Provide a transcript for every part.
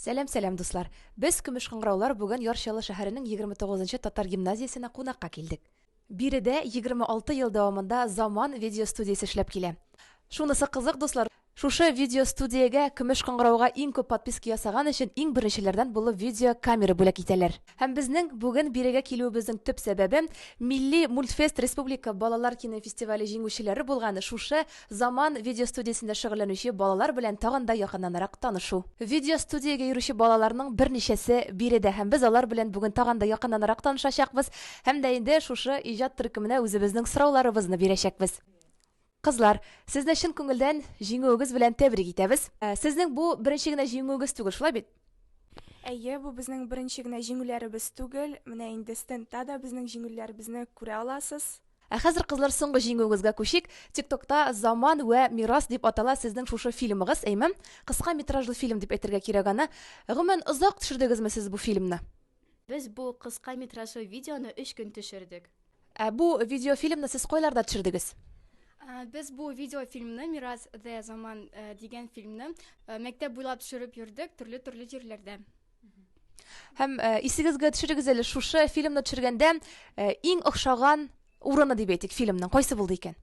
Сәлам, сәлам, дуслар! Без, Көмеш кыңгыраулар, бүген Яр Чаллы шәһәренең 29 нчы татар гимназиясенә кунакка килдек. Биредә 26 ел дәвамында Заман видеостудиясе эшләп килә. Шунысы кызык, дуслар, шушы видеостудиягә Көмеш кыңгырауга иң күп подписка ясаган өчен иң беренчеләрдән булып видеокамера бүләк итәләр. Һәм безнең бүген бирегә килүебезнең төп сәбәбе, Милли мультфест республика балалар кинофестивале җиңүчеләре булган шушы Заман видеостудиясендә шөгыльләнүче балалар белән тагын да якыннанрак танышу. Видеостудиягә йөрүче балаларның берничәсе биредә һәм без алар белән бүген тагын да якыннанрак танышачакбыз һәм дә инде шушы иҗат төркеменә үзебезнең сорауларыбызны бирәчәкбез. Кызлар, сезне чын күңелдән җиңүегез белән тәбрик итәбез. Сезнең бу беренче генә җиңүегез түгел, шулай бит? Әйе, бу безнең беренче генә җиңүләребез түгел. Менә инде стендта да безнең җиңүләребезне күрә аласыз. Ә хәзер, кызлар, соңгы җиңүегезгә күчик. Тик-токта Заман вә мирас дип атала сезнең шушы фильмыгыз, әйме? Кыска метражлы фильм дип әйтергә кирәк аны. Гомумән, озак төшердегезме сез бу фильмны? Без бу кыска метражлы видеоны өч көн төшердек. Ә бу видеофильмны сез кайларда төшердегез? Ә, без бу видеофильмны Мирас дә заман ә, дигән фильмны ә, мәктәп буйлап төшереп йөрдек төрле-төрле җирләрдә. Һәм ә, исегезгә төшерегез әле шушы фильмны төшергәндә ә, иң охшаган урыны дип әйтик фильмның кайсы булды икән?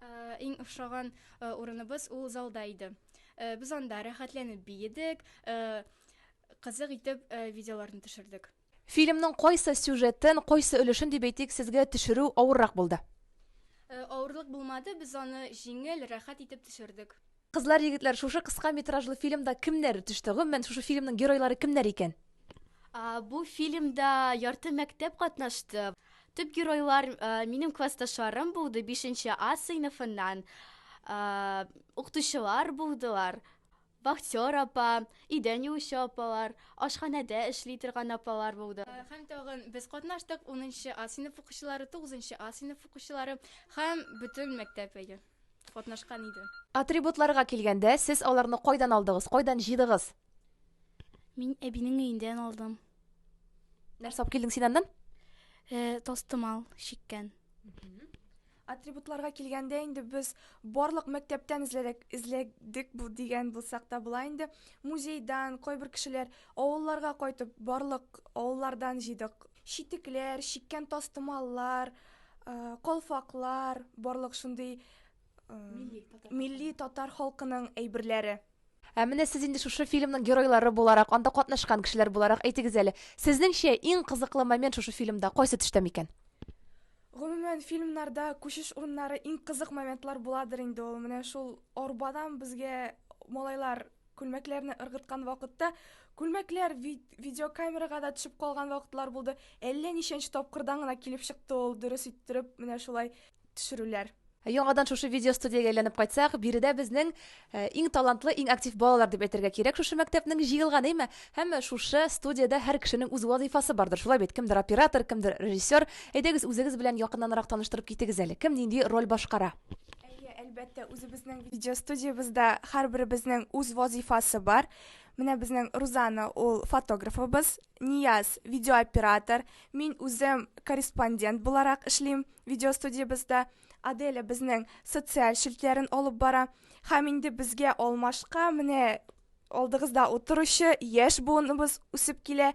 Ә, иң охшаган ә, урыныбыз ул залда иде. Ә, без анда рәхәтләнеп биедек, ә, кызык итеп ә, видеоларны төшердек. Фильмның кайсы сюжетын, кайсы өлешен дип әйтик, сезгә төшерү авыррак булды? Авырлык булмады, без аны җиңел, рәхәт итеп төшердек. Кызлар, егетләр, шушы кыска метражлы фильмда кемнәр төште? Гомумән, шушы фильмның геройлары кемнәр икән? Бу фильмда ярты мәктәп катнашты. Төп геройлар минем классташларым булды, бишенче А сыйныфыннан укытучылар булдылар. Вахтер апа, идән юучы апалар, ашханәдә эшли торган апалар булды. Һәм тагын без катнаштык, унынчы А сыйныф укучылары, тугызынчы А сыйныф укучылары һәм бөтен мәктәп әйе, катнашкан иде. Атрибутларга килгәндә, сез аларны кайдан алдыгыз, кайдан җыйдыгыз? Мин әбинең өендән алдым. Нәрсә алып килдең син аннан? Тастымал чиккән. Атрибутларга килгәндә инде без барлык мәктәптән эзләдек, эзләдек бу дигән булсак та була инде. Музейдан, кайбер кешеләр авылларга кайтып, барлык авыллардан җыйдык. Читекләр, чиккән тастымаллар, калфаклар, барлык шундый милли татар халкының әйберләре. Ә менә сез инде шушы фильмның геройлары буларак, анда катнашкан кешеләр буларак әйтегез әле, сезнеңчә, иң кызыклы момент шушы фильмда кайсы төштә микән? Гомумән, фильмнарда күчеш урыннары иң кызык моментлар буладыр инде ул. Менә шул арбадан безгә малайлар күлмәкләрне ыргыткан вакытта, күлмәкләр видеокамерага да төшеп калган вакытлар булды. Әллә ничәнче тапкырдан гына килеп чыкты ул, дөрес иттереп, менә шулай. төшерүләр. Ә яңадан шушы видеостудиягә әйләнеп кайтсак, биредә безнең э, иң талантлы, иң актив балалар дип әйтергә кирәк. Шушы мәктәпнең җыелганы име? Һәм шушы студиядә һәр кешенең үз вазыйфасы бардыр. Шулай бит, кемдер оператор, кемдер режиссер. Әйдәгез, үзегез белән якыннанрак таныштырып китегез әле. Кем нинди роль башкара? әлбәттә, үзебезнең видеостудиябездә һәрберебезнең үз вазыйфасы бар. Менә безнең Рузана, ул фотографыбыз. Нияз, видеооператор, мин үзем корреспондент буларак эшлим видеостудиябездә. Аделя безнең социаль челтләрен алып бара. Һәм инде безгә алмашка менә алдыгызда утыручы яшь буыныбыз үсеп килә.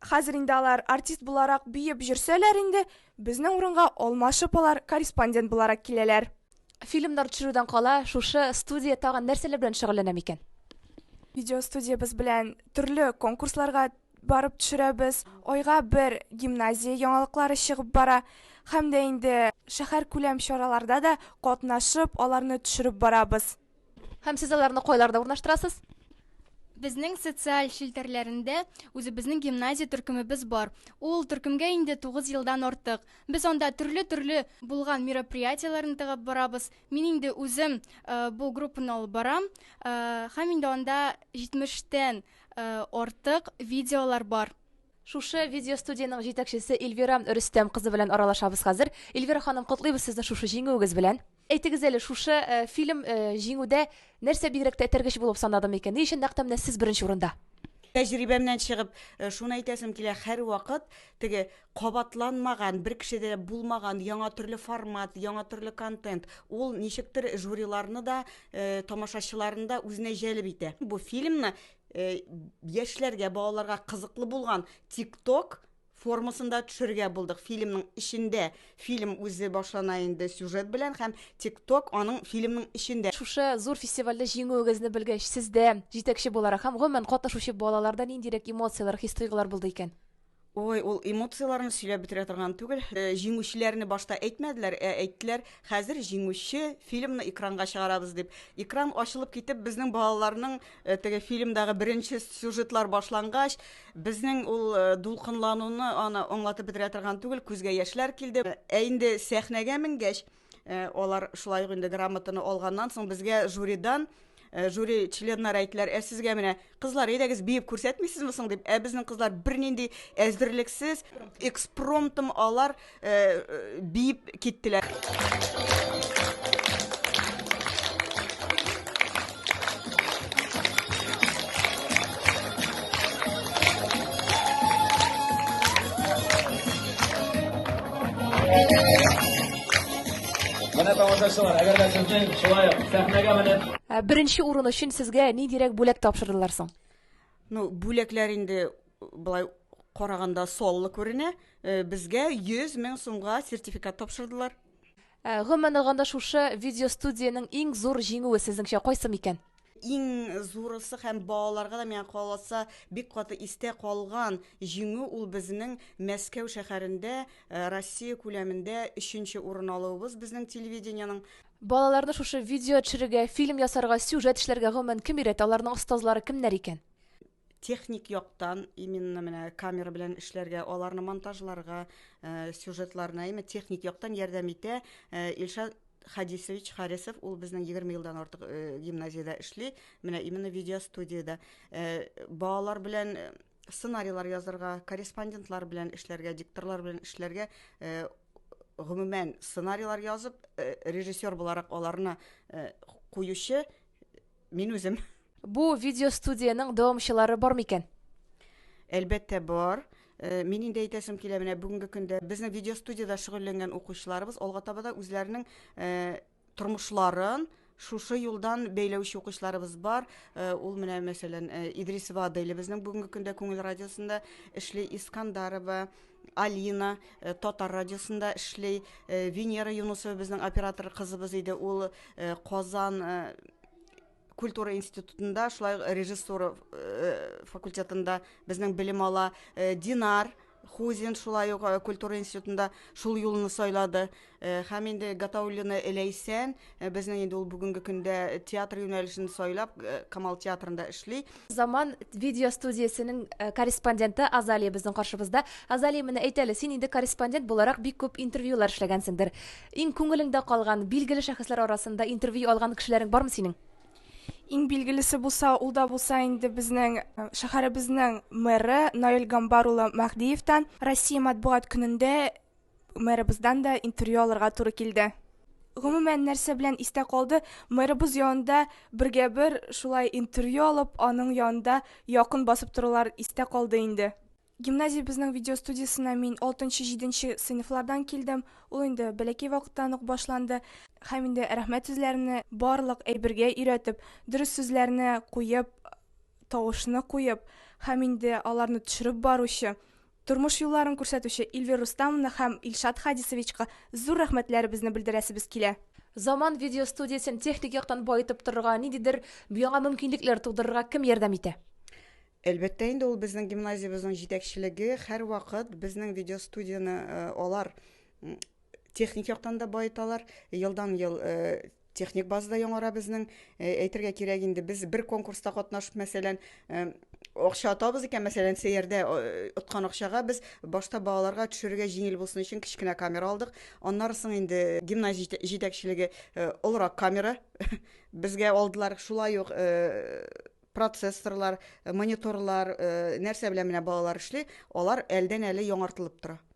Хәзер инде алар артист буларак биеп җөрсәләр инде, безнең урынга алмашып алар корреспондент буларак киләләр. Фильмнар төшерүдән кала, шушы студия тагын нәрсәләр белән шөгыльләнә микән? Видеостудиябез белән төрле конкурсларга барып төшерәбез. Айга бер гимназия яңалыклары чыгып бара һәм дә инде шәһәр күләм чараларда да катнашып, аларны төшереп барабыз. Һәм сез аларны кайларда урнаштырасыз? Безнең социаль челтәрләрендә үзебезнең гимназия төркемебез бар. Ул төркемгә инде 9 елдан артык. Без анда төрле-төрле булган мероприятиеләрне тыгып барабыз. Мин инде үзем э, бу группаны алып барам. Э, һәм инде анда 70 тән э, артык видеолар бар. Шушы видеостудиянең җитәкчесе Эльвира Рөстәм кызы белән аралашабыз хәзер. Эльвира ханым, котлыйбыз сезне шушы җиңүегез белән. Әйтегез әле, шушы фильм Җиңүдә нәрсә бигрәк тәтергеч булып санады микән? Ни өчен нәкъ тә менә сез беренче урында? Тәҗрибәмнән чыгып, шуны әйтәсем килә, һәрвакыт теге кабатланмаган, бер кешедә булмаган яңа төрле формат, яңа төрле контент, ул ничектер жюриларны да, тамашачыларны да үзенә җәлеп итә. Бу фильмны яшьләргә, балаларга кызыклы булган TikTok формасында төшерергә булдык. Фильмның эчендә фильм үзе башлана инде сюжет белән һәм тик-ток аның фильмның эчендә. Шушы зур фестивальдә җиңүегезне белгәч, сездә, җитәкче буларак һәм гомумән катнашучы балаларда ниндирәк эмоцияләр, хис-тойгылар булды икән? Ой, ул эмоцияләрне сөйләп бетерә торган түгел. Э, җиңүчеләрне башта әйтмәделәр, ә әйттеләр, хәзер җиңүче фильмны экранга чыгарабыз дип. Экран ачылып китеп, безнең балаларның Э, теге фильмдагы беренче сюжетлар башлангач, безнең ул э, дулкынлануны аны аңлатып бетерә торган түгел, күзгә яшьләр килде. Э, ә инде сәхнәгә менгәч, алар шулай ук инде грамотаны алганнан соң безгә жюридан жюри членнары әйттеләр, ә сезгә менә кызлар, әйдәгез биеп күрсәтмисезме соң дип, ә безнең кызлар бернинди әзерлексез, экспромтом алар биеп киттеләр. Менә тамашачылар, әгәр дә сезнең шулай ук сәхнәгә менеп Ә, Беренче урын өчен сезгә ниндирәк бүләк тапшырдылар соң? Ну, бүләкләр инде Былай караганда саллы күренә. Э, безгә 100 мең сумга сертификат тапшырдылар. Э, гомумән алганда шушы видеостудиянең иң зур җиңүе сезнеңчә кайсы микән? иң зурысы һәм балаларга да миңа каласа бик каты истә калган җиңү ул безнең Мәскәү шәһәрендә э, Россия күләмендә өченче урын алуыбыз безнең телевидениеның Балаларны шушы видео төшерергә, фильм ясарга, сюжет эшләргә гомумән кем өйрәтә, аларның остазлары кемнәр икән? техник яктан именно менә камера белән эшләргә, аларны монтажларга, э, сюжетларына именно техник яктан ярдәм итә. Э, Илшат Хадисович Харисов, ул безнең 20 елдан артык э, гимназиядә эшли, менә именно видеостудиядә. Э, балалар белән э, сценарийлар язырга, корреспондентлар белән эшләргә, дикторлар белән эшләргә э, гомумән сценарийлар язып, э, режиссер буларак аларны э, куючы Мин үзем. Бу видеостудиянең дәвамчылары бар микән? Әлбәттә бар. Э, мин инде әйтәсем килә, менә бүгенге көндә безнең видеостудиядә шөгыльләнгән укучыларыбыз алга таба да үзләренең э, тормышларын шушы юлдан бәйләүче укучыларыбыз бар. Э, ул менә мәсәлән Идрисова Аделя безнең бүгенге көндә Күңел радиосында эшли Искандарова, Алина э, Татар радиосында эшли, э, Венера Юнусова безнең оператор кызыбыз иде, ул э, Казан культура институтында, шулай режиссура факультетында безнең белем ала, Динар Хузин шулай ук культура институтында шул юлны сайлады. Э, һәм инде Гатауллина Ләйсән э, безнең инде ул бүгенге көндә театр юнәлешен сайлап э, Камал театрында эшли. Заман видео студиясенең корреспонденты Азалия безнең каршыбызда. Азалия, менә әйт әле, син инде корреспондент буларак бик күп интервьюлар эшләгәнсеңдер. Иң күңелеңдә калган, билгеле шәхесләр арасында интервью алган кешеләрең бармы синең? Иң билгелесе булса, ул да булса инде безнең э, шәһәребезнең мэры Наил Гамбар улы Мәһдиевтан Россия матбугат көнендә Мэрыбыздан да интервью алырга туры килде. Гомумән, нәрсә белән истә калды? Мэрыбыз янында бергә бер шулай интервью алып, аның янында якын басып торулар истә калды инде. Гимназиябезнең видеостудиясенә мин 6-7 сыйныфлардан килдем. Ул инде бәләкәй вакыттан ук башланды. Һәм инде рәхмәт сүзләрне барлык әйбергә өйрәтеп, дөрес сүзләрне куеп, тавышны куеп һәм инде аларны төшереп баручы Тормыш юлларын күрсәтүче Ильвир Рустамовна һәм Илшат Хадисовичка зур рәхмәтләребезне белдерәсебез килә. Заман видеостудиясен техник яктан баетып торырга, ниндидер яңа мөмкинлекләр тудырырга кем ярдәм итә? Әлбәттә инде, ул безнең гимназиябезнең җитәкчелеге һәрвакыт безнең видеостудияне алар Техник яктан да баеталар. Елдан-ел техник база да яңара безнең. Әйтергә кирәк инде, без бер конкурста катнашып, мәсәлән, акча атабыз икән, мәсәлән, сәйярдә откан акчага без башта балаларга төшерергә җиңел булсын өчен кечкенә камера алдык. Аннары соң инде гимназия җитәкчелеге олырак камера безгә алдылар. Шулай ук процесторлар, мониторлар, нәрсә белән менә балалар эшли, алар әлдән-әле яңартылып тора.